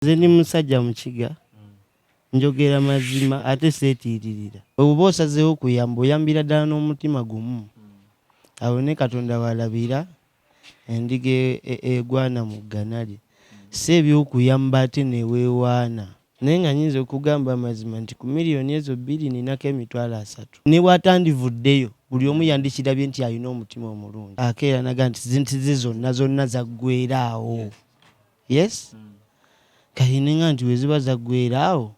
nze ndi musajja mukiga njogera mazima ate seetiiririra obuba osazeewo kuyamba oyambira ddala n'omutima gumu awo ne katonda walabira endiga e- e- egwana mu ggana lye si ebyokuyamba ate neweewaana naye nga nyinza okugamba amazima nti ku miliyoni ezo bbiri ninako emitwalo asatu ne bwatandivuddeyo buli omu yandikirabye nti alina omutima omulungi akeera naga nti zinti ze zonna zonna zaggweera awo yes mm. kati ninga nti weziba zaggwera awo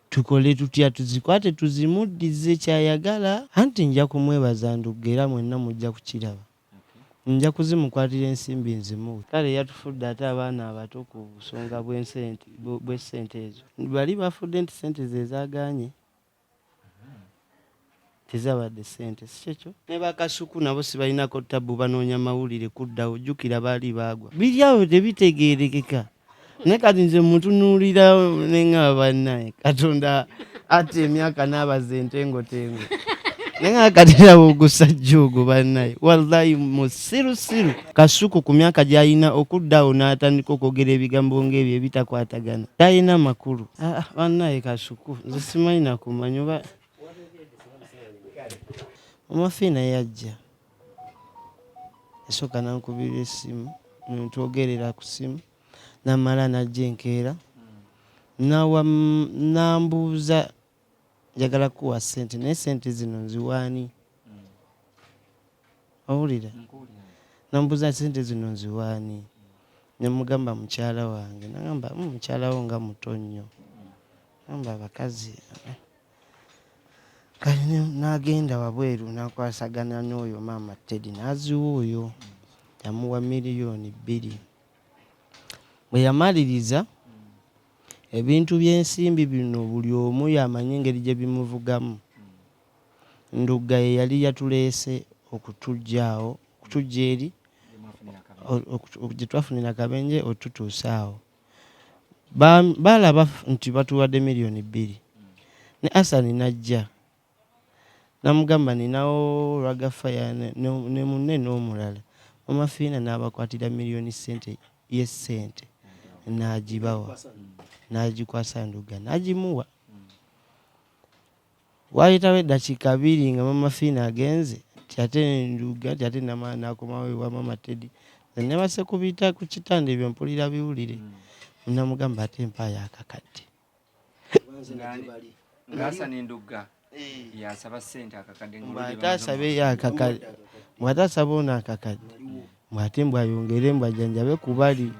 tukole tutya tuzikwate tuzimuddize kyayagala anti nja kumwebaza ndugga era mwenna mujja kukiraba nja kuzimukwatira ensimbi nzimuwe kale yatufudde ate abaana abato ku busonga bw'essente ezo bali bafudde nti sente zezaganye tezabadde sente sikyekyo nebakasuku nabo sibalinako tabu banoonya mawulire kuddawo jukira baali baagwa biri awo tebitegeerekeka naye kati nze mutunuulira nengaba bannaye katonda ata emyaka n'abaza entengotengo naye nga katiraba ogusajja ogwo bannaye wallahi musirusiru kasuku ku myaka gyalina okuddawo n'atandika okwogera ebigambo ng'ebyo ebitakwatagana talina makulu ah, ah, bannaye kasuku nze simanyi nakumanya oba omafiina yajja esooka nankubira esimu ntwogerera ku simu namala najja enkeera nambuuza njagala kuwa sente naye sente zino nziwaani owulira namubuuza sente zino nziwaani nemugamba mukyala wange nagamba hmm, mukyala wo nga muto nnyo nagamba abakazi eh. kale nagenda wabweru nakwasagana n'oyo maama tedi naziwa oyo yamuwa miliyoni bbiri bwe yamaliriza ebintu by'ensimbi bino buli omu yamanyi engeri gye bimuvugamu Ndugga ye yali yatuleese okutuggya awo, okutuggya eri, gye twafunira akabenje otutuusa awo. Baalaba nti batuwadde milioni bbiri. Ne Asani n'ajja namugamba ninawo Raga Fire ne munne n'omulala. Maama Fiina n'abakwatira milioni ssente ye ssente n'agibawa, n'agikwasa Ndugga n'agimuwa. Waayitawo eddakiika bbiri nga maama Fiina agenze nti ate Ndugge anti ate namala n'akomawo ewa maama Teddy. Nze nneebase ku bita ku kitanda ebyo mpulira biwulire. Namugamba ate mpaayo akakadde. Ng'asana Ndugga y'asaba ssente akakadde. Mbu ate asabeyo akakadde. Mbu ate asaba ono akakadde. Mbu ate mbu ayongere mbu ajanjabe ku bali.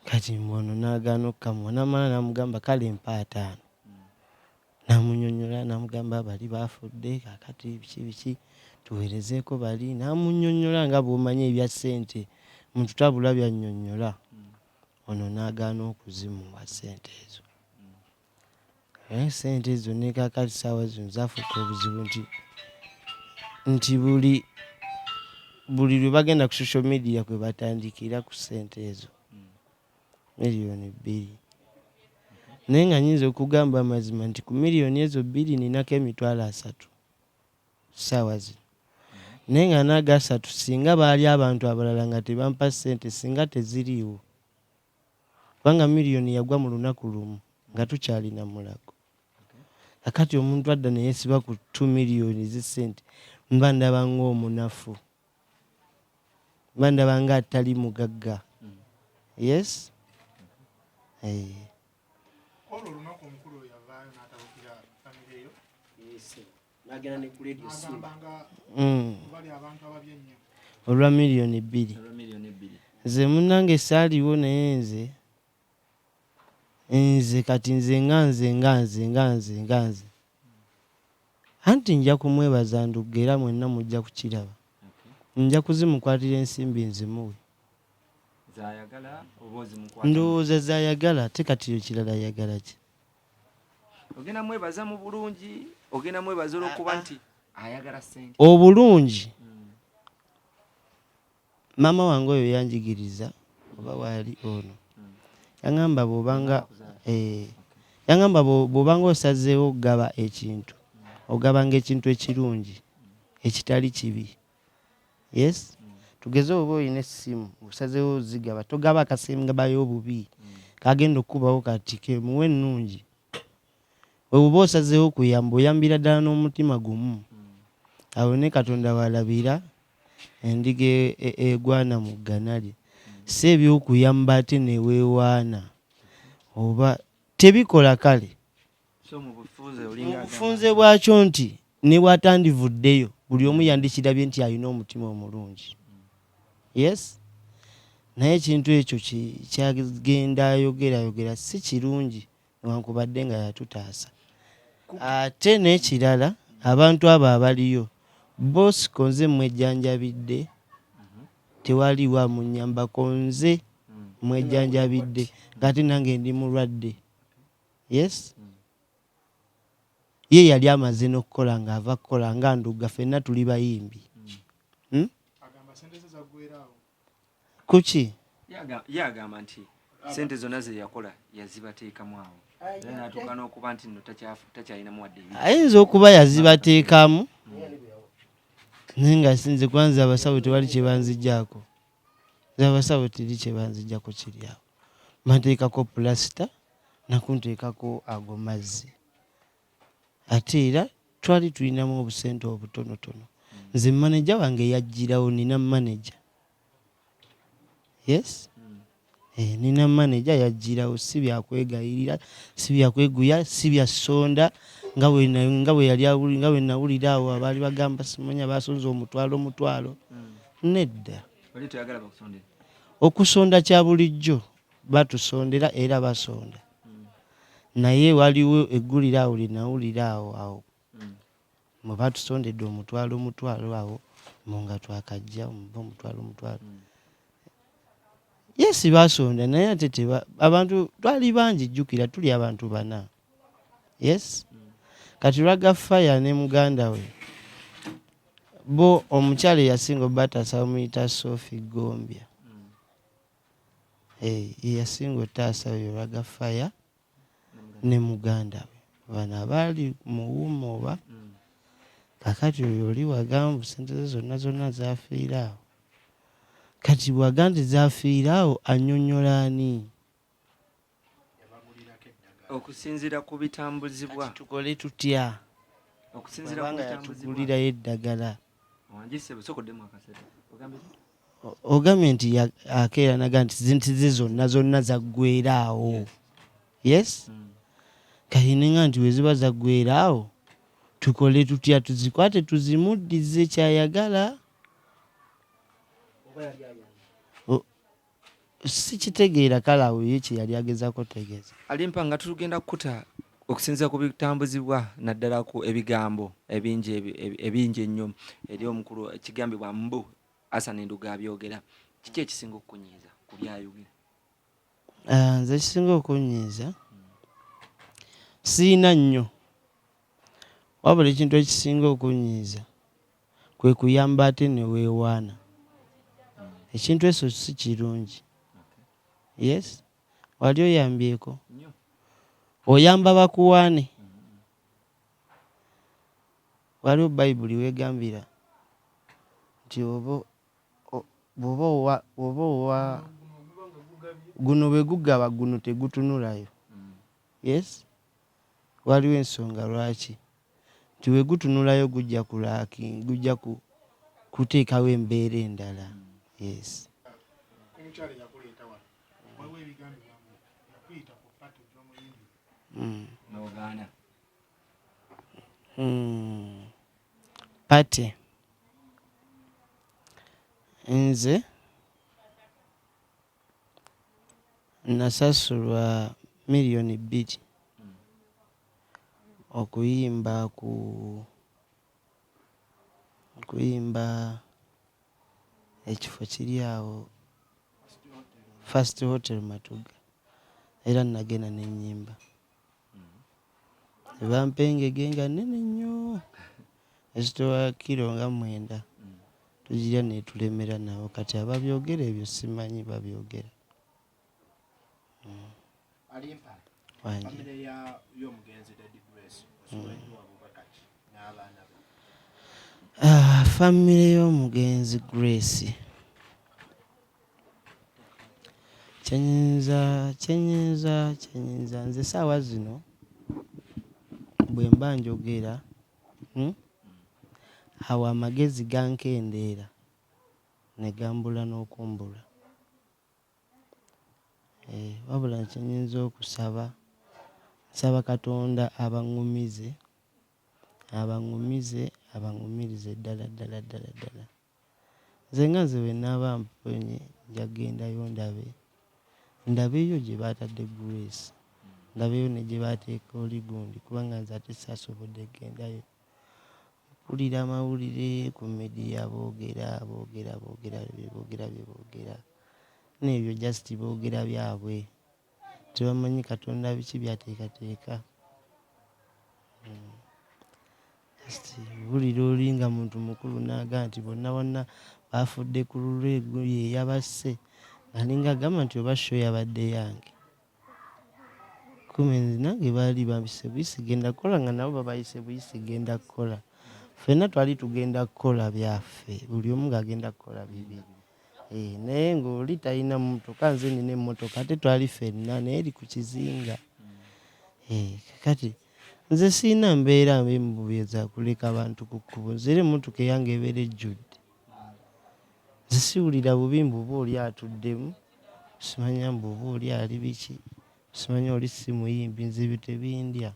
Kati mbu ono n'agaana okukamuwa n'amala n'amugamba kale mpa ataano n'amunyonyola n'amugamba bali baafudde kakati biki biki tuweerezeeko bali n'amunyonyola nga bw'omanyi ebya ssente mututabula by'annyonnyola ono n'agaana okuzimuwa ssente ezo. Naye sente ezo nekakati saawa zino zafuuka obuzibu nti nti buli buli lwebagenda ku social media kwebatandikira ku sente ezo miliyoni bbiri naye nga nyinza okugamba amazima nti ku miliyoni ezo bbiri ninako emitwalo asatu saawa zino naye nga nagasatu singa baali abantu abalala nga tebampa sente singa teziriiwo kubanga million yagwa mulunaku lumu nga tukyali namulago kakati omuntu adda neyesiba ku 2 million zesente mba ndaba nga omunafu mba ndaba nga atali mugagga yes hey. Eh. n'agenda ne ku leediyo simba mm. olwa miliyoni bbiri nze munange saaliwo naye nze nze kati nze nga nze nga nze nga nze nga nze anti nja kumwebaza ndugga era mwenna mujja kukiraba nja kuzimukwatira ensimbi nzimuwe ndowooza zayagala ate kati yo kirala ayagala ki ogenda mwebaza mu bulungi ogenda mwebaza olwokuba ah, ah. nti ayagala sente obulungi hmm. maama wange oyo yanjigiriza oba waali ono hmm. yangamba bwobanga eh, yangamba bwobanga osazeewo okugaba ekintu hmm. ogabanga ekintu ekirungi ekitali kibi yes tugeze oba olina essimu osazewo zigaba togaba akasemgabayo obubi kagenda okukubawo kati kemuwa ennungi webuba osazewo kuyamba oyambira ddala n'omutima gumu awo ne katonda walabira endiga e, e, egwana mu ggana lye si ebyokuyamba ate newewaana oba tebikola kale obufunze bwakyo nti ne bwatandivuddeyo buli omu yandikirabye nti alina omutima omulungi yes naye ekintu ekyo kyagenda ayogerayogera si kirungi newankubadde nga yatutaasa ate n'ekirala abantu abo abaliyo bosiko nze mwejjanjabidde tewaliwo amunyambako nze mwejjanjabidde ngaate nange ndi mulwadde yes ye yali amaze n'okukola ng'ava kukola nga ndugga fenna tuli bayimbi hmm? kuki ye agamba nti sente zonna zeyakola yazibateekamu awo era natuuka n'okuba nti no takyalinamu wadde ayinza okuba yazibateekamu naye nga sinze kwanza abasawo tewali kyebanzijako abasawo teri kyebanzijako kiryawo mateekako pulasita nakunteekako ago mazzi ate era twali tulinamu obusente obutonotono nze maneja wange yajjirawo nina maneja yes eh, nina maneja yajjirawo si byakwegayirira si byakweguya si bya sonda nga bwe nawulira awo abaali bagamba simanya basonza omutwalo omutwalo mm. nedda okusonda kya bulijjo batusondera era basonda naye waliwo eggulire awo lye nawulira awo awo mwe batusondedde omutwalo omutwalo awo mu nga twakajja omuva omutwalo omutwalo yesi basonda naye ate teba abantu twali bangi jjukira tuli abantu bana yes kati lwaga faya ne muganda we bo omukyala eyasinga obataasa bamuyita sofi gombya Eeh yeyasinga otaasa oyo Raga fire ne mugandawe bano abaali mu womma oba kakati oyo oli wagamba mbu sente ze zonna zonna zafiira awo kati bwaga nti zafiira awo anyonyola ani? okusinzira ku bitambuzibwa tukole tutya okusinzira ku bitambuzibwa eddagala ogambye nti akeeranaga nti zintize zonna zonna zaggwera awo yes hmm. kayininga nti weziba zaggwera awo tukole tutya tuzikwate tuzimuddize kyayagala Sikitegeera kale awo ye kyeyali agezako tegeza. Alimpa nga tulugenda kukuta okusinzira ku bitambuzibwa naddala ku ebigambo ebingi ebingi ennyo eri omukulu kigambibwa mbu Hassan Nduga abyogera kiki ekisinga okukunyiiza ku byayogera? Ah, nze ekisinga okunyiiza sirina nnyo wabula ekintu ekisinga okunyiiza kwe kuyamba ate ne weewaana ekintu eso si kirungi yes wali oyambyeko oyamba bakuwaane waliwo bayibuli weegambira nti oba bwoba owa bwoba owa guno bwe gugaba guno tegutunulayo yes Waliwo ensonga lwaki. Nti bwe gutunulayo gujja ku lacking, gujja ku kuteekawo embeera endala. Yes. Omukyala eyakuleeta wano waliwo ebigambibwa mbu yakuyita ku party gy'omuyimbi. Mm. N'ogaana. Mm. Party. Nze. Nasasulwa million bbiri okuyimba ku okuyimba ekifo kiri awo first hotel matugga era nagenda nenyimba. Bampa engege nga nnene nnyo ezitowa kiro nga mwenda tugirya netulemera nawo kati ababyogera ebyo simanyi babyogera famire y'omugenzi Grace Kyenyinza kyenyinza kyenyinza nze saawa zino bwemba njogera hmm awo amagezi gankendeera ne gambula n'okumbula eeh wabula kyenyinza okusaba nsaba Katonda abangumize abangumize abangumirize ddala ddala ddala ddala. Nze nga nze bwe nnaaba mponye nja kugendayo ndabe ndabeyo gye baatadde Grace ndabeyo ne gye baateeka oli gundi kubanga nze ate saasobodde kugendayo. Mpulira amawulire ku midiya boogera boogera boogera bye boogera bye boogera n'ebyo just boogera byabwe. Tebamanyi Katonda biki by'ateekateeka. Just wulira oli nga muntu mukulu n'agamba nti bonna bonna baafudde ku lulwe ye yabasse alinga agamba nti oba sho yabadde yange kumi nange baali bampise buyisi genda kukola nga nabo babayise buyisi genda kukola ffenna twali tugenda kukola byaffe buli omu ng'agenda kukola bibye Eh, naye ng'oli talina mmotoka nze nina emmotoka ate twali fenna naye eri ku kizinga eh, kakati nze sirina mbeera mbi mu bubi ezakuleka abantu ku kkubo nze era emmotoka eyange ebeera ejjudde nze siwulira bubi mbu oba oli atuddemu simanya mbu oba oli ali biki simanya oli si muyimbi nze ebyo tebindya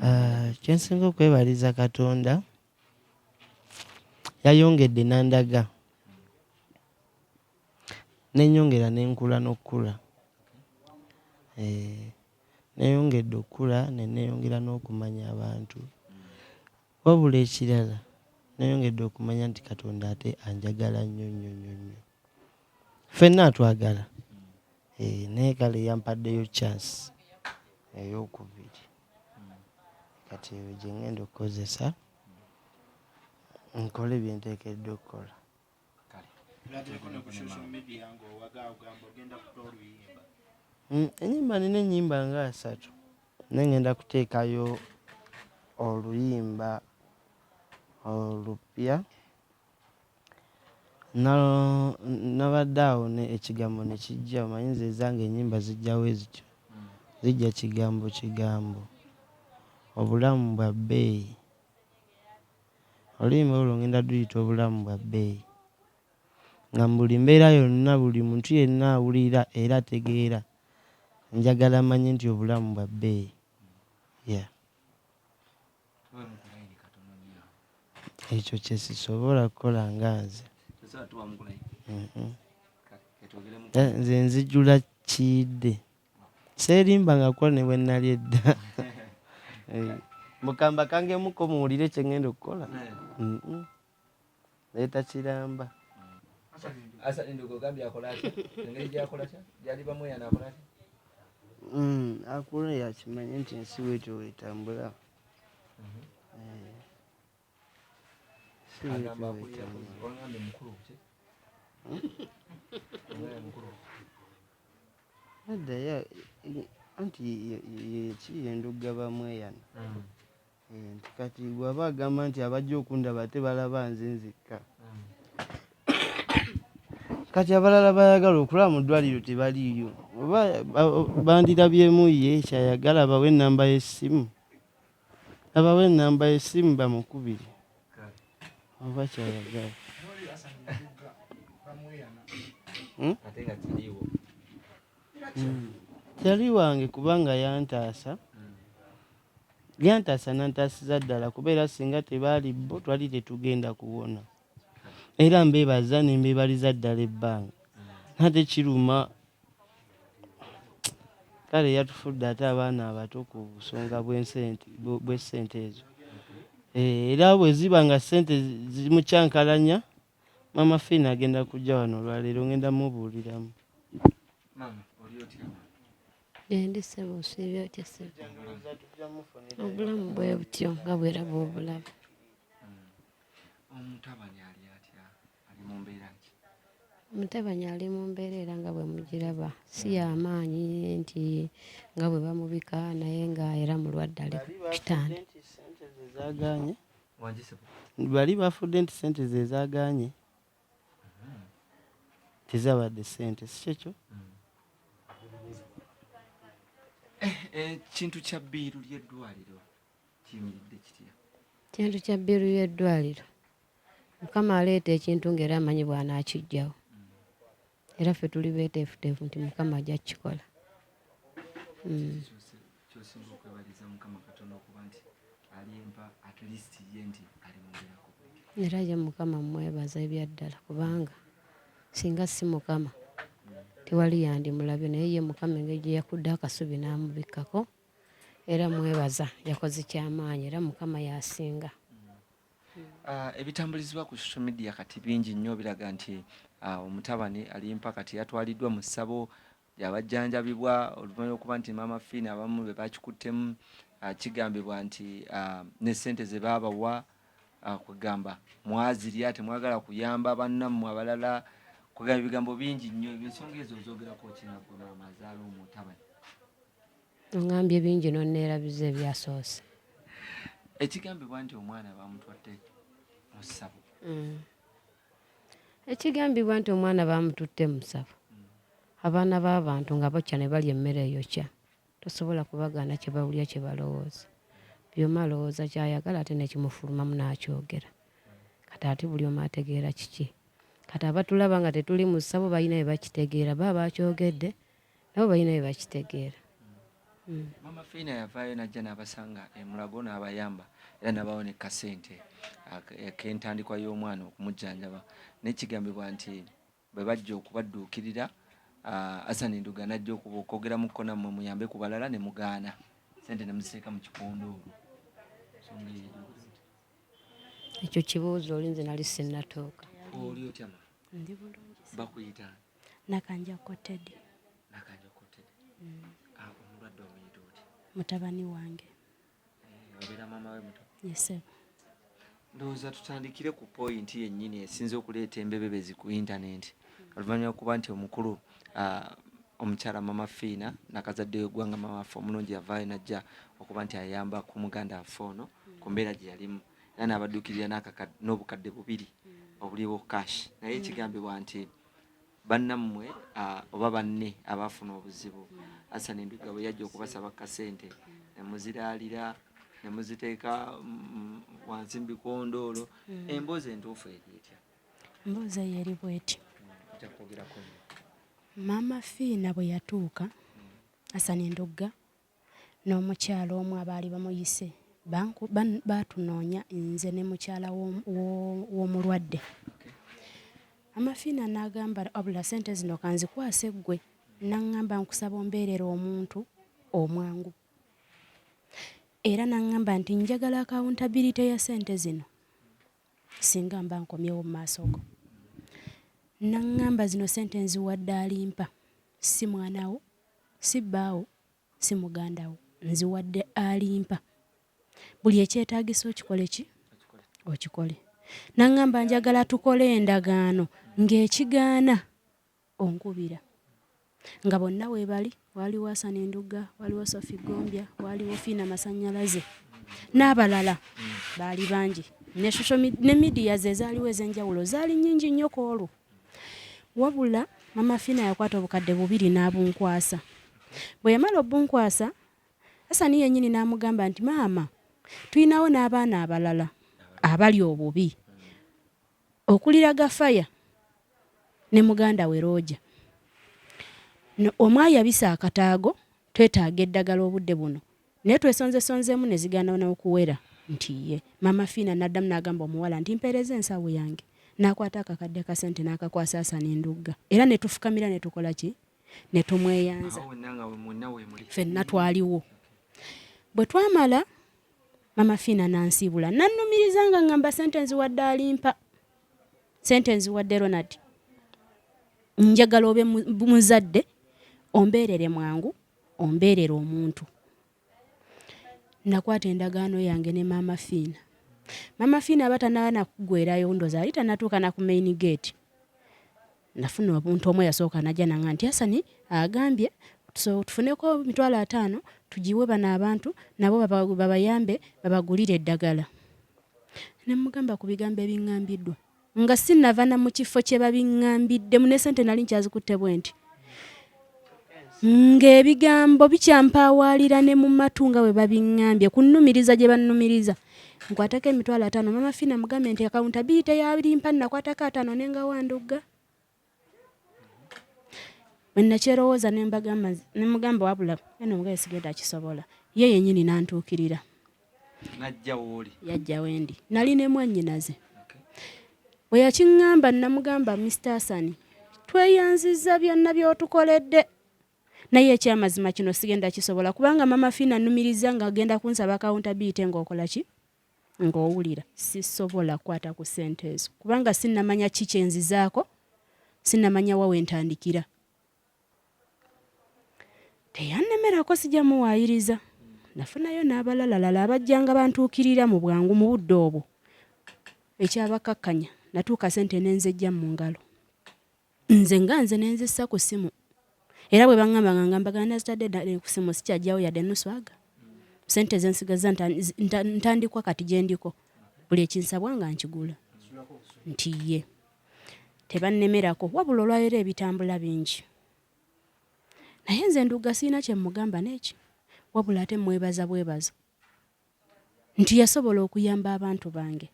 Eh, kyensinga okwebaliza katonda yayongedde nandaga nenyongera nenkula nokukula eh, neyongedde okukula neneyongera nokumanya abantu Wabula ekirala nayongedde okumanya nti Katonda ate anjagala nnyo nnyo nnyo nnyo. Ffenna atwagala. Eh, naye kale yampaddeyo chance ey'okubiri. Kati eyo gye ngenda okukozesa nkole bye nteekeddwa okukola. Mm, enyimba nina enyimba nga asatu naye ngenda kuteekayo oluyimba olupya nabadde awo ekigambo nekijja omanyi nze ezange enyimba zijjawo ezityo zijja kigambo kigambo obulamu bwa bbeeyi Oluyimba olwo ngenda duyita obulamu bwa bbeeyi nga mu buli mbeera yonna buli muntu yenna awulira era ategeera njagala amanye nti obulamu bwa bbeeyi yeah. Ekyo kye sisobola kukola nga nze mm-hmm. eh, nze nzijula kiidde Seerimba nga kukola ne bwe nnali edda. Mbu kambakangemuko muwulire kye ŋŋenda okukola. Naye takiramba. Asali Nduga ogambye akola atya? Engeri gy'akola atya? Gy'ali bamweyana akola atya? Akula eyo akimanye nti ensi bw'etyo bw'etambula. addayo anti yekiyo endugga bamweyana mm. eh, nti kati gwaba agamba nti abajja okundaba ate balaba nze nzikka mm. kati abalala bayagala okulaba mu ddwaliro tebaliiyo oba bandirabyemu ye kyayagala bawe enamba y'essimu Nabawa enamba yesimu bamukubire oba kyayagala. Hmm? Hmm. Tali wange kubanga yantaasa yantaasa nantaasiza ddala kuba era singa tebaali bo twali tetugenda kuwona. era mbebaza nembebaliza ddala ebbanga nate kiruma kale yatufudde ate abaana abato ku busonga bwesente ezo eh, era bweziba nga sente zimukyankalanya mama fin agenda kujja wano olwaleero ngenda mubuuliramu endisebo osiibye otya sebo obulamu bwe butyo nga bweraba obulaba omutabani ali atya ali mu mbeera ki mutabani ali mu mbeera era nga bwe mugiraba si yamaanyi nti nga bwe bamubika naye nga era mulwadde ali kitanda bali bafudde nti sente ze zaganye mm-hmm. tezabadde sente si kyekyo mm. ekintu eh, eh, kya bbiiru ly'eddwaliro kintu kya bbiru y'eddwaliro mukama aleeta ekintu ngaera amanyi bwanaakijjawo era ffe tuli beeteefuteefu nti mukama ajja kukikola hmm. era ye mukama mwebaza ebyaddala kubanga singa si mukama tewali yandimulabye naye ye mukama engeri gye yakudde akasubi n'amubikkako era mwebaza yakoze kyamaanyi era mukama yasinga ah, ebitambulizibwa ku social media kati bingi nnyo biraga nti ah, omutabani alimpa kati yatwaliddwa mu ssabo lyabajjanjabibwa oluvanyuma lwokuba nti maama fiina abamu be bakikuttemu ah, kigambibwa nti ne ssente ze baabawa kwegamba mwazirya temwagala kuyamba bannammwe abalala kwegamba ebigambo bingi nnyo ensonga ezo ozogerako kinagwe maama azaala omutabani Ongambye bingi n'onneerabiza ebyasoose. Ekigambibwa nti omwana baamutwadde mu ssabo. Mm. Ekigambibwa nti omwana baamututte mu ssabo. Mm. Abaana b'abantu nga bokya ne balya emmere eyokya tosobola kubagaana kye bawulira kye balowooza. Byoma alowooza ky'ayagala ate ne kimufulumamu n'akyogera. Kati ate buli omu ategeera kiki. Kati abatulaba nga tetuli mu ssabo balina bye bakitegeera baba baakyogedde nabo balina bye bakitegeera mm. mama fiina yavaayo najja n'abasanga emulago n'abayamba era nabawo ne kasente kentandikwa y'omwana okumujjanjaba nekigambibwa nti bwe bajja okubadduukirira asani nduga najja okuba okwogera mukko nammwe muyambe ku balala ne mugaana sente ne muziteeka mu kikondo olwo ekyo kibuuzo olinze nali sinnatuuka oli otyama ndi bulungi bakuyita Nakanjakko Teddy. Nakanjakko Teddy. Mm. Ah, omulwadde omuyita oti? Mutabani wange. Eh, obeera maama we muto? Yes, sir. Ndowooza tutandikire ku pointi yennyini esinze okuleeta embebebezi ku intanenti oluvannyuma lwokuba nti omukulu ah, omukyala mama fiina nakazadde wegwanga mama waffe omulungi yavaayo najja okuba nti ayamba ku muganda waffe ono ku mbeera gye yalimu era n'abaddukirira n'obukadde bubiri obuliwo cash naye ekigambibwa nti bannammwe oba banne abaafuna obuzibu asan enduga bwe yajja okubasaba kasente nemuziraalira nemuziteeka mm, wansi mubikondoolo hmm. emboozi entuufu eri etya emboozi eyo eri bwetyo maama fiina bwe yatuuka hmm. asan endugga N'omukyala omu abaali bamuyise baatunoonya nze ne mukyala w'omulwadde. Amafiina n'agamba wabula sente zino kanzikwase ggwe n'aŋŋamba nkusaba ombeerere omuntu omwangu era n'aŋŋamba nti njagala akawuntabirite ya sente zino singa mba nkomyewo mu maaso go n'aŋŋamba zino sente nziwadde alimpa si mwanawo Si bbaawo, si muganda wo. Nziwadde alimpa. Buli ekyetaagisa okikole ki? Okikole. N'aŋŋamba njagala tukole endagaano ng'ekigaana onkubira. Nga bonna weebali, waaliwo Asani Ndugga, waaliwo Sofi Ggombya, waaliwo Fiina Masannyalaze n'abalala baali bangi. Ne social media, ne midiya ze zaaliwo ez'enjawulo zaali nnyingi nnyo ku olwo. Wabula Mama Fina yakwata obukadde bubiri n'abunkwasa. Bwe yamala obbunkwasa, Hassan yennyini n'amugamba nti, Maama, tulinawo n'abaana abalala abali obubi okulira Gafaya ne muganda we Roja. Omu ayabise akataago, twetaaga eddagala obudde buno. Naye twesonzesonzeemu ne zigaana n'okuwera nti ye. Maama Fiina n'addamu n'agamba omuwala nti, Mpeereza ensawo yange. N'akwata akakadde ka ssente n'akakwasa Asani Ndugga era ne tufukamira ne tukola ki? Ne tumweyanza. Fenna twaliwo. Bwe twamala Maama Fiina n'ansiibula n'annumiriza nga ng'amba ssente nziwadde alimpa. Ssente nziwadde Ronald. Njagala obe muzadde ombeerere mwangu ombeerera omuntu nakwata endagaano yange ne maama fiina maama fiina aba tanaba nakugwerayo ndoza ali tanatuuka na ku main gate nafuna omuntu omu eyasooka najja nanga nti asani agambye so tufuneko mitwalo ataano tugiwe bano abantu nabo babayambe babagulire eddagala nemugamba ku bigambo ebingambiddwa Nga sinnava na mu kifo kye babiŋŋambiddemu ne ssente nali nkyazikutte bwenti ng'ebigambo bikyampaawaalira ne mu matu nga bwe babiŋŋambye kunnumiriza gye bannumiriza nkwatako emitwalo ataano maama fiina mugambe nti akawunta bbiri teyalimpa nnakwatako ataano ne ngawandugga Bwennakyerowooza ne mbagamba ne mugamba wabula eno omugaye sigenda akisobola ye yennyini n'antuukirira yajja wendi nali ne mwannyinaze bwe yakiŋŋamba nnamugamba Mr Asani tweyanziza byonna by'otukoledde naye ekyamazima kino sigenda kisobola kubanga mama fiina annumirizza ng'agenda kunsaba akawunta biyite ng'okola ki ng'owulira sisobola kukwata ku ssente ezo kubanga sinnamanya ki kye nzizaako sinnamanya wa we ntandikira teyannemerako sijja muwaayiriza nafunayo n'abalalalala abajjanga bantuukirira mu bwangu mu budde obwo ekyabakakkanya natuuka ssente n'enzejja mu ngalo Nze nga nze nenzissa ku simu era bwe bangamba nga ngamba gana nazitadde dda ku simu sikyajjawo yadde nuswaga sente zensigazza ntandikwa kati gyendiko buli ekinsabwa nga nkigula nti ye tebannemerako wabula olwaleero ebitambula bingi naye nze nduga siina kyemugamba neki wabula ate mwebaza bwebaza nti yasobola okuyamba abantu bange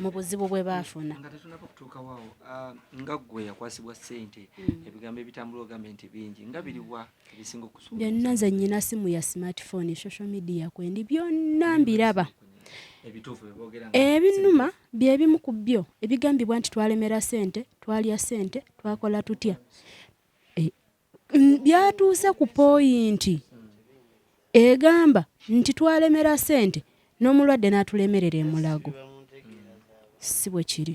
mu buzibu bwe baafuna. Nga tetunaba kutuukawo awo, ah, nga ggwe yakwasibwa ssente, mm. ebigambo ebitambula ogambe nti bingi, nga biriwa ebisinga okusuubiza? Byonna nze nnyina simu ya smartphone, social media kwendi, byonna mbiraba. Ebinuma bye bimu ku byo ebigambibwa nti twalemera ssente, twalya ssente, twakola tutya. byatuuse ku poyinti egamba nti twalemera sente n'omulwadde n'atulemerera emulago si bwe kiri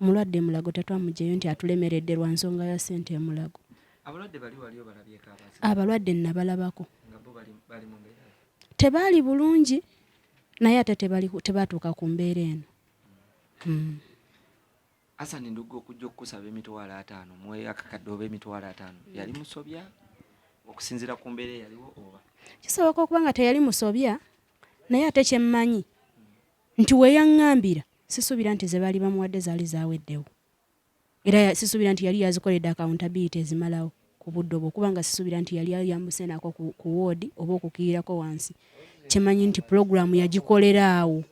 omulwadde emulago tetwamujeyo nti atulemeredde lwa nsonga ya sente emulago abalwadde nabalabako tebaali bulungi naye ate tebatuuka ku mbeera eno hmm. Hassan Ndugga okujja okukusaba emitwalo ataano mu akakadde oba emitwalo ataano mm. yali musobya okusinziira ku mbeera eyaliwo oba kisoboka okuba nga teyali musobya naye ate kyemmanyi nti weyaŋŋambira sisuubira nti ze baali bamuwadde zaali zaweddewo era sisuubira nti yali yazikoledde akawuntabiyiti ezimalawo ku budde obwo kuba nga sisuubira nti yali ayambuse naako ku woodi oba okukirirako wansi kyemanyi nti pulogulaamu yagikolera awo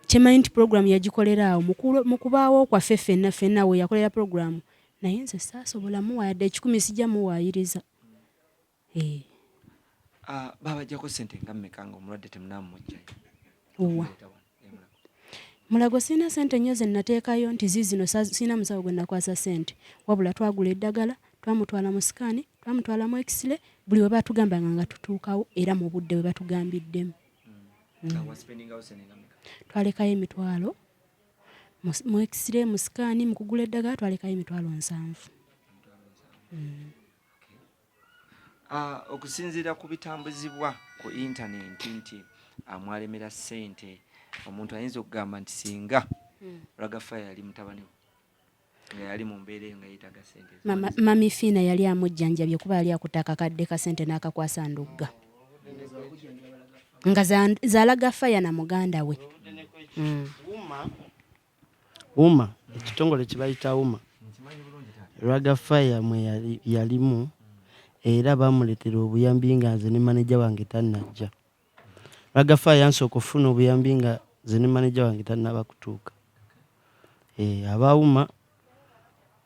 kyemanyi nti pulogulaamu yagikolera awo mu kubaawo kwaffe fenna fenna we yakolera pulogulaamu naye nze saasobolamu wayadde ekikumi sijja muwaayiriza Eh. Ah, babajjako ssente nga mmeka nga omulwadde temunaamumujjayo owa mulago sirina ssente nnyo ze nnateekayo nti ziizino sirina musawo gwe nakwasa ssente wabula twagula eddagala twamutwala mu sikaani twamutwala mu ekisire buli we batugambanga nga tutuukawo era mu budde bwe batugambiddemu mm. mm. twalekayo emitwalo mu ekisire mu sikaani mu kugula eddagala twalekayo emitwalo nsanvu mm. Ah, okusinziira ku bitambuzibwa ku intanenti nti ah, mwalemera ssente omuntu ayinza okugamba nti singa hmm. ragafa yali mutabani we nga yali mu mbeera eyo nga yeetaga sente mami fiina yali amujjanjabye kuba yali akuta akakadde ka sente n'akakwasa ndugga nga zalaga faya na muganda we hmm. UMA, ekitongole kye bayita UMA, Raga Fire mwe yalimu era baamuleetera obuyambi nga nze ne maneja wange tannajja. Raga Fire yansooka okufuna obuyambi nga nze ne maneja wange tannaba kutuuka. Eh, aba UMA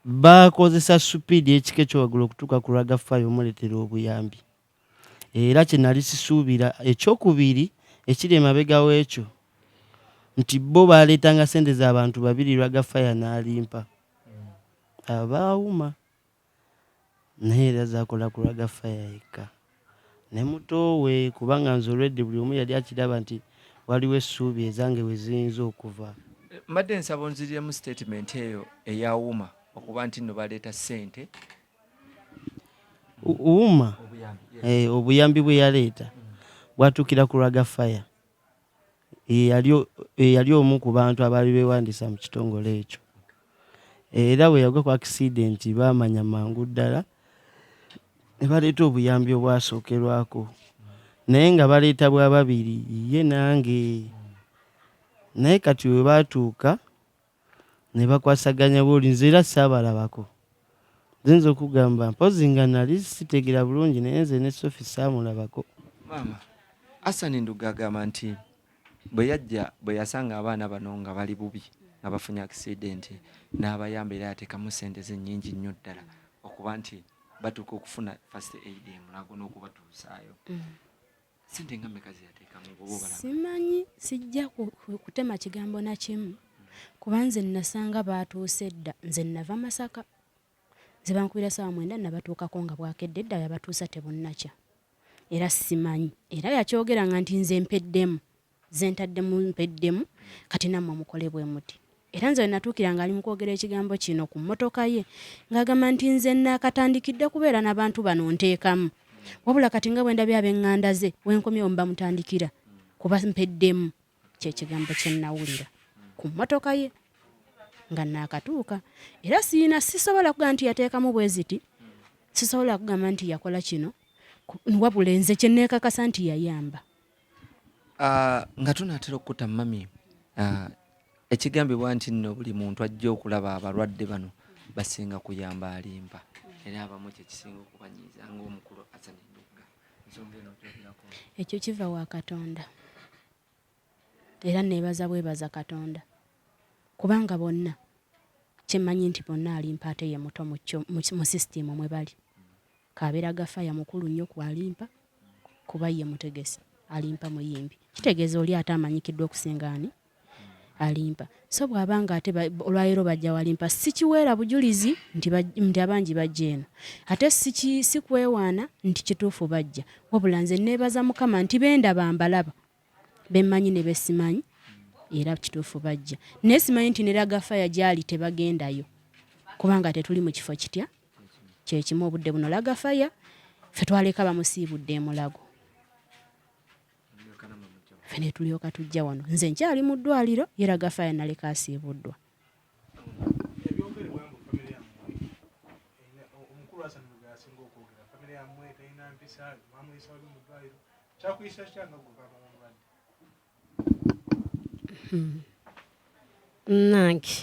baakozesa supiidi ekika ekyowaggulu okutuuka ku Raga Fire omuleetera obuyambi. Era kye nali sisuubira, eky'okubiri ekiri emabega w'ekyo, nti bo baaleetanga ssente za bantu babiri lwa gafaya n'alimpa. Abo baawuma. Naye era zaakola ku lwa gafaya yekka. Ne mutoowe, kubanga nze olwedde buli omu yali akiraba nti waliwo essuubi ezange we ziyinza okuva. Mbadde nsaba onziriremu sitetimenti eyo eya Uma okuba nti nno baleeta ssente Uma obuyambi bwe yaleeta bwatuukira ku Raga Fire eyali omu ku bantu abaali beewandiisa mu kitongole ekyo era bwe yagwa ku akisidenti baamanya mangu ddala ne baleeta obuyambi obwasookerwako naye nga baleeta bwa babiri ye nange naye kati we baatuuka ne bakwasaganya bw'oli nze era saabalabako. Nze okugamba mpozzi nga nali sitegera bulungi naye nze ne Sophie saamulabako. Maama Asani Ndugga agamba nti bwe yajja bwe yasanga abaana bano nga bali bubi nga bafunye akisidenti n'abayamba era yateekamu ssente ze nnyingi nnyo ddala okuba nti batuuka okufuna first aid e Mulago n'okubatuusaayo. Mm. sente nga meka zeyateekamu simanyi sijja kutema kigambo na kimu kuba nze nasanga baatuuse dda nze nava masaka nze bankubira saawa mwenda nabatuukako nga bwakedde dda yabatuusa tebunnakya era simanyi era yakyogeranga nti nze mpeddemu zentaddemu mpeddemu kati nammwe mukole bwe muti era nze wenatuukira nga ali mukwogera ekigambo kino ku mmotoka ye ng'agamba nti nze naakatandikidde kubeera n'abantu bano nteekamu wabula kati nga bwe ndabye ab'eŋŋanda ze wenkomyewo mbamutandikira kuba mpeddemu kyekigambo kye nnawulira ku mmotoka ye nga naakatuuka era siina sisobola kuga nti yateekamu bwe ziti sisobola kugamba nti yakola kino wabula enze kye neekakasa nti yayamba Ah, nga tunaatera okukuta mami ah, ekigambibwa nti nno buli muntu ajja okulaba abalwadde bano basinga kuyamba alimba era abamu kyekisinga okubanyiiza ngaomukulu asanidugga ensonga eno ojogerako ekyo kiva wa katonda era nebaza bwebaza katonda kubanga bonna kyemanyi nti bonna alimpa ate ye muto mu sisitiimu mwe bali Kaberaga fire mukulu nnyo ku Alimpa kuba ye mutegesi Alimpa muyimbi kitegeeza oli ate amanyikiddwa okusinga ani Alimpa so bw'aba nga ate olwaleero bajja walimpa sikiweera bujulizi nti abangi bajja eno ate sikwewaana nti kituufu bajja wabula nze neebaza mukama nti bendaba mbalaba bemmanyi ne besimanyi era kituufu bajja naye simanyi nti ne lagafaya gyali tebagendayo kubanga tetuli mu kifo kitya kyekimu obudde buno lagafaya fe twaleka bamusiibudde emulago fe netulyoka tujja wano nze nkyali mu ddwaliro ye lagafaya naleka asiibuddwa nange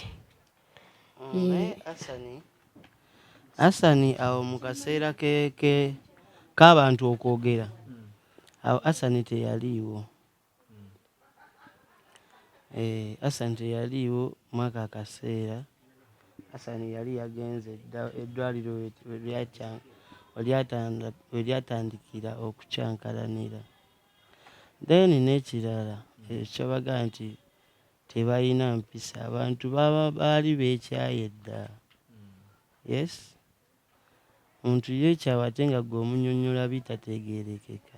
naye asani asani awo mu kaseera keke k'abantu okwogera awo asani teyaliiwo Eeh Hassan teyaliiwo mwako akaseera. Hassan yali yagenze dda eddwaaliro we we lyakya we lyatanda we lyatandikira okukyankalanira. Then n'ekirala ekiraga nti tebalina mpisa abantu baba baali beekyaye dda. Yes, omuntu yeekyawa ate nga ggwe omunnyonnyola bitategeerekeka.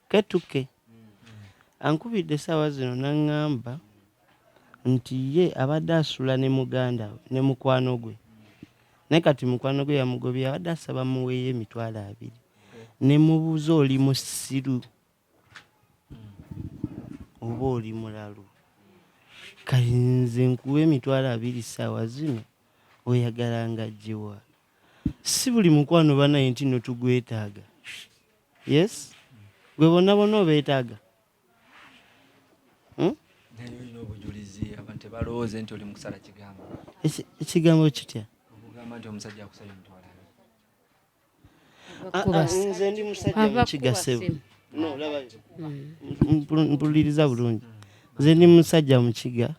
Ketuke ankubidde essaawa zino n'ang'amba nti ye abadde asula ne muganda we ne mukwano gwe naye kati mukwano gwe yamugobye abadde asaba muweeyo emitwalo abiri ne mubuuza oli musiru oba oli mulalu kati nze nkuwa emitwalo abiri ssaawa zino oyagala nga gyewa si buli mukwano banaye nti no tugwetaaga yes gwe bonna bonna obeetaaga hmm? ekigambo kitya nze ndi musajja mukigasebo mpuliriza bulungi nze ndi musajja mukiga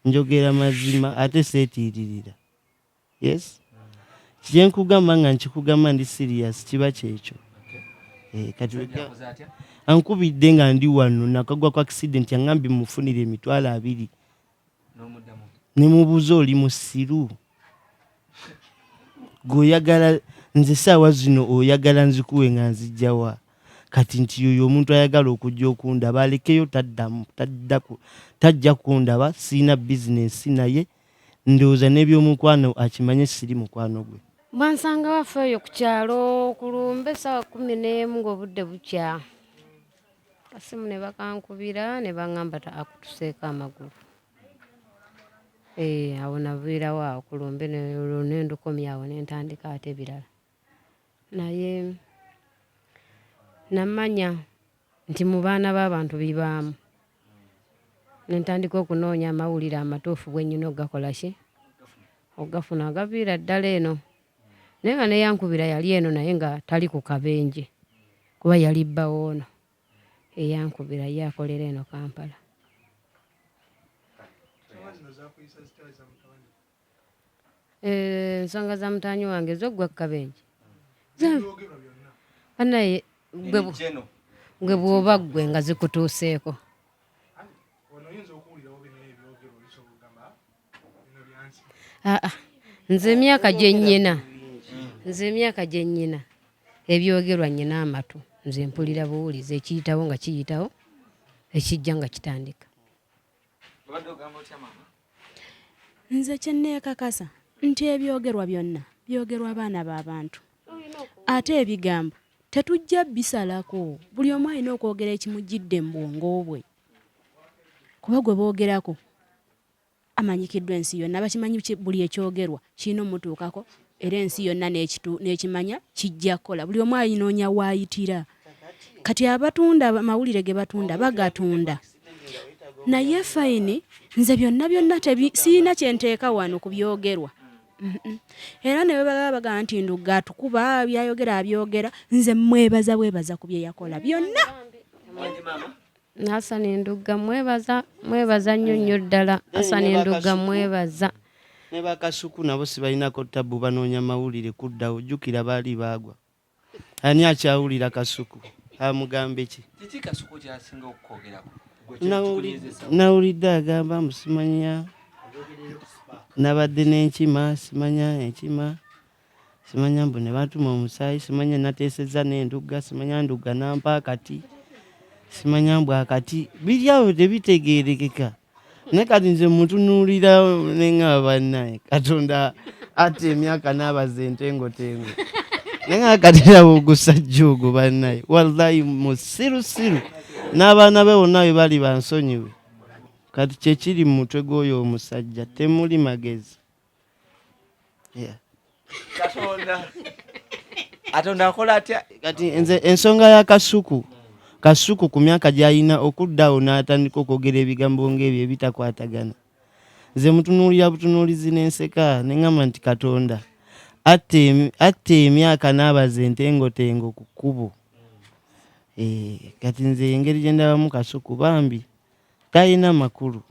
njogera mazima ate seetiiririra yes kyenkugamba nga nkikugamba ndi serious kiba kyekyo eh, kati ankubidde nga ndi wano nakagwa ku accident yangambye mufunire emitwalo abiri nemubuuza oli musiru gweoyagala nze saawa zino oyagala nzikuwe nga nzijjawa kati nti yoyo omuntu ayagala okujja okundaba alekeyo taddamu tajja kundaba siina bizinesi naye ndowooza n'ebyomukwano akimanye siri mukwano gwe. Bansanga waffe oyo ku kyalo ku lumbe essaawa kkumi n'emu ng'obudde bukya kasimu ne bakankubira ne baŋŋamba akutuseeko amagulu eh, awo naviirawo awo ku lumbe ne ndukomyawo ne ntandika ate ebirala naye namanya nti mu baana b'abantu bibaamu nentandika okunoonya amawulire amatuufu bwenyina okugakola ki okugafuna agaviira ddala eno naye nga neyankubira yali eno naye nga tali ku kabenje kuba yali bbawo ono eyankubira ye akolera eno kampala Eh, ensonga za mutaanyi wange zoggwa ku kabenje banaye gwe bwoba ggwe nga zikutuuseeko ah, ah. nze emyaka gye nnyina nze emyaka gye nnyina ebyogerwa nnyina amatu nze mpulira buwulizi ekiyitawo nga kiyitawo ekijja nga kitandika obadde ogamba otya maama nze kyenneekakasa nti ebyogerwa byonna byogerwa abaana b'abantu ate ebigambo tetujja bisalako buli omu alina okwogera ekimujjidde mu bwongo bwe kuba gwe boogerako amanyikiddwa ensi yonna bakimanyi buli ekyogerwa kirina omutuukako era ensi yonna n'ekimanya kijja kukola buli omu ayinoonya waayitira kati abatunda amawulire ge batunda bagatunda naye fayini nze byonna byonna sirina kyenteeka wano ku byogerwa era ne bwebagaba bagamba nti ndugga atukuba byayogera abyogera nze mwebaza bwebaza ku bye yakola byonna Hassan Ndugga mwebaza mwebaza nnyo nnyo ddala Hassan Ndugga mwebaza ne bakasuku nabo sibalinako tabbu banoonya mawulire kuddawo jjukira baali baagwa ani akyawulira kasuku amugambe ki nawulidde agamba mbu simanya nabadde n'enkima simanya enkima simanya mbu ne bantuma omusaayi simanya nateesezza n'endugga simanya ndugga nampa akati simanya mbu akati biri awo tebitegeerekeka naye kati nze mutunuulira neŋaba bannaye katonda ate emyaka n'abaza entengotengo naye nga katiraba ogusajja ogwo bannaye wallahi musirusiru n'abaana be bonna bwe bali bansonyiwe kati kyekiri mu mutwe gw'oyo omusajja temuli magezi katonda akola atya kati nze ensonga ya kasuku kasuku ku myaka gyalina okuddawo n'atandika okwogera ebigambo ng'ebyo ebitakwatagana nze mutunuulira butunuulizi n'enseka ne ŋŋamba nti katonda atta emyaka n'abaza entengotengo ku kkubo eh, kati nze engeri gye ndabamu kasuku bambi talina makulu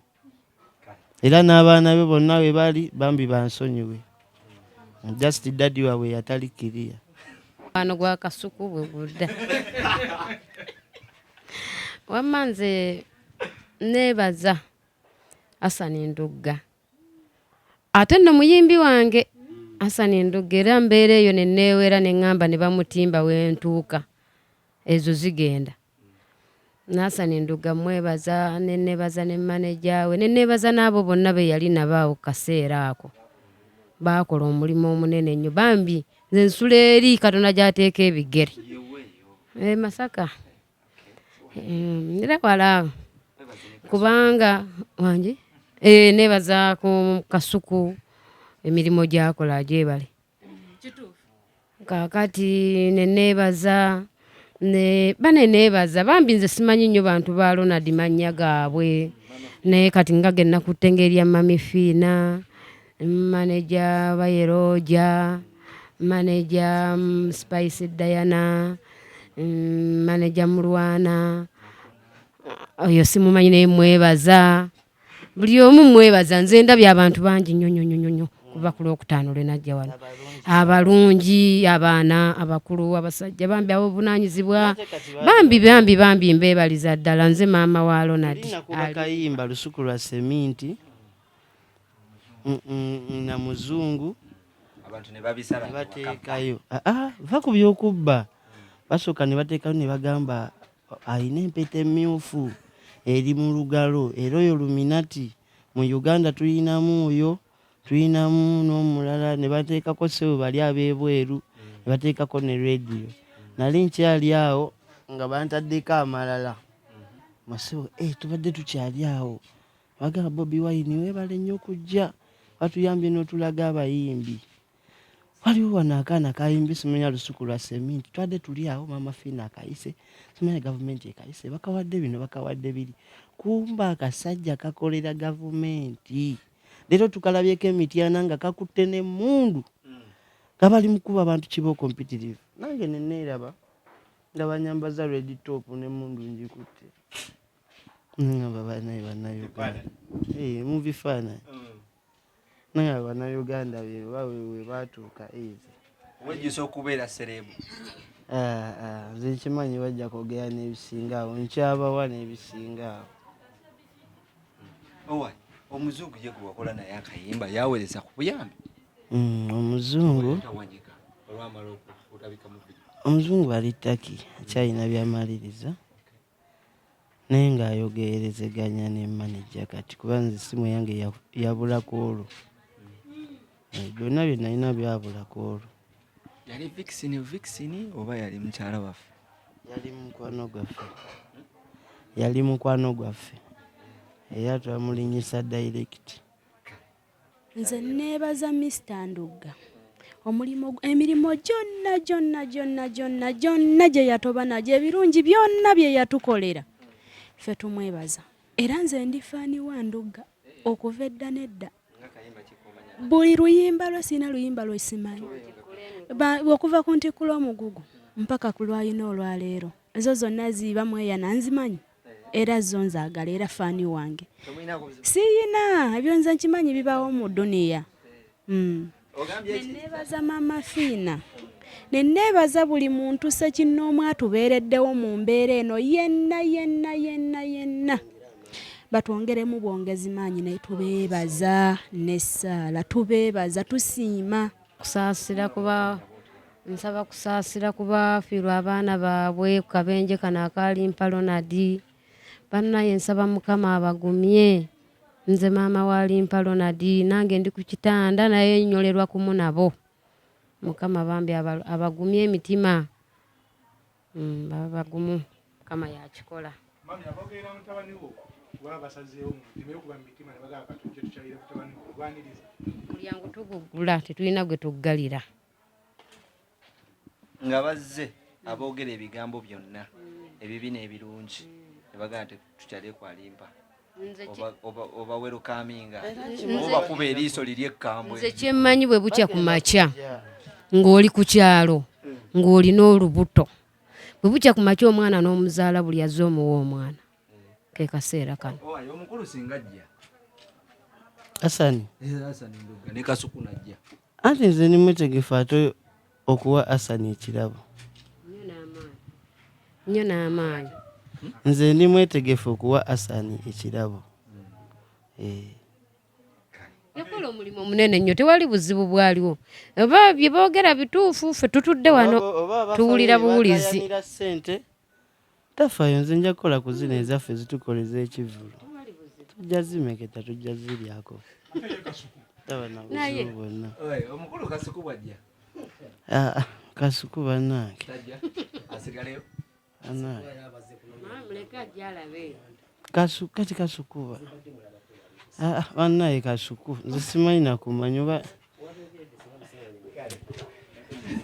era n'abaana be bonna we bali bambi bansonyiwe just dadi waabwe yatali kiriya mukwano gwa kasuku bwe gudda wamma nze neebaza asani ndugga ate nno muyimbi wange asani ndugga era mbeera eyo neneewera ne ŋŋamba ne bamutimba wentuuka ezo zigenda Nasani Nduga mwebaza ne nebaza ne maneja we ne nebaza n'abo bonna be yali nabo awo ku kaseera ako baakola omulimu omunene nnyo bambi nze nsula eri katonda gy'ateeka ebigere e masaka eh, era wala kubanga wangi eh, nebaza ku kasuku emirimu gyakola gyebale kakati neneebaza ne bane neebaza bambi nze simanyi nnyo bantu ba ronald mannya gaabwe naye kati nga ge nakutte ngaerya mami fiina maneja bayeroja maneja mm, spice diana mm, maneja mulwana oyo simumanyi naye mwebaza buli omu mwebaza nze ndabye abantu bangi nnyo nnyo nnyo nnyo kuva ku lwokutaano lwe najja wano abalungi abaana abakulu abasajja bambi abobunanyizibwa bambi bambi bambi mbebaliza ddala nze maama wa ronald kayimba lusuku lwa seminti mm, mm, mm, na muzungu nebateekayo ah, ah, va ku byokubba basooka nebateekayo nebagamba Alina empeta emmyufu eri mu lugalo era oyo luminati mu Uganda tulinamu oyo tulinamu n'omulala ne bateekako ssebo bali ab'ebweru ne bateekako ne rediyo nali nkyali awo nga bantaddeko amalala masebo eh, tubadde tukyali awo bagala bobi wayini webale nnyo kujja batuyambye n'otulaga abayimbi waliwo wano akaana kayimbi simanya lusuku lwa seminti twadde tuli awo maama fiina akayise simanya gavumenti ekayise bakawadde bino bakawadde biri kumba akasajja kakolera gavumenti leero tukalabyeko emityana nga kakutte nemundu nga bali mukuba abantu kibooko mpitirivu nange neneeraba nga banyambaza red top nemundu njikutte nangamba banaye banauganda eh, mubifaananyi mm. nangamba banauganda beba webatuuka ezi wejjusa okubeera serebu ah, ah, nze nkimanyi bajja kwogera n'ebisinga awo nkyabawa n'ebisinga awo omuzungu ye gwe wakola naye akayimba yawereza ku buyambi mm, omuzungu olwamala okutabika mu omuzungu ali taki akyalina byamaliriza Naye nga ayogeerezeganya ne manager kati kuba nze essimu eyange yabula ku olwo. Eh, byonna bye nalina byabula ku olwo. Yali Vixen Vixen oba yali mukyala waffe? Yali mukwano gwaffe. Yali mukwano gwaffe. Era twamulinyisa direct. Nze neebaza Mister Ndugga omulimu emirimu gyonna gyonna gyonna gyonna gyonna gye yatoba nagyo ebirungi byonna bye yatukolera ffe tumwebaza era nze ndi faani wa Ndugga okuva edda n'edda buli luyimba lwe sirina luyimba lwe simanyi okuva ku ntikkula omugugu mpaka ku lwalina olwaleero ezo zonna ziiba mweyana nzimanyi era zo nzagala era faani wange siyina ebyo nze nkimanyi bibawo mu duniya hmm. neneebaza maama fiina neneebaza buli muntu sekinnoomu atubeereddewo mu mbeera eno yenna yenna yenna yenna batwongeremu bwongezi maanyi naye tubeebaza nessaala tubeebaza tusiima kusaasira kuba Nsaba kusaasira ku baafiirwa abaana baabwe ku kabenje kano akaalimpa Ronald. Bannaye nsaba Mukama abagumye. Nze maama wa Limpa Ronald nange ndi ku kitanda naye nyolerwa kumu nabo. Mukama bambi abagumye emitima. Mm, baba bagumu. Mukama yakikola. Mami abogeera mutabani wo baba basazeewo mu mitima yo kuba mu mitima ne bagala katuuke tukyalire mutabani wo lwaniriza. Mulyango tugugula tetulina gwe tuggalira. nga bazze aboogera ebigambo byonna ebibi n'ebirungi ne bagamba nti tukyaleku alimpa oba werukaminga obakuba eriiso liri ekkambwe nze kyemmanyi bwe bukya ku makya ng'oli ku kyalo ng'olina olubuto bwe bukya ku makya omwana n'omuzaala buli azze omuwa omwana ke kaseera kano omukulu singa ajja asani eh, ne kasuku najja Anti nze ndi mwetegefu ate okuwa Asani ekirabo. Nnyo n'amaanyi. Nze ndi mwetegefu okuwa Asani ekirabo. Eh. yakola omulimu omunene nnyo tewali buzibu bwaliwo oba bye boogera bituufu ffe tutudde wano tuwulira buwulizi sente Tafayo nze nja kukola ku zino ezaffe zitukola ez'ekivvulu tujja zimeketa tujja ziryako taba na buzibu bwonna omukulu kasuku bwajja ah, ah, kasuku bannange asigaleyo kasuku kati kasukuba ah, ah, bannaye kasuku nze simanyi nakumanya oba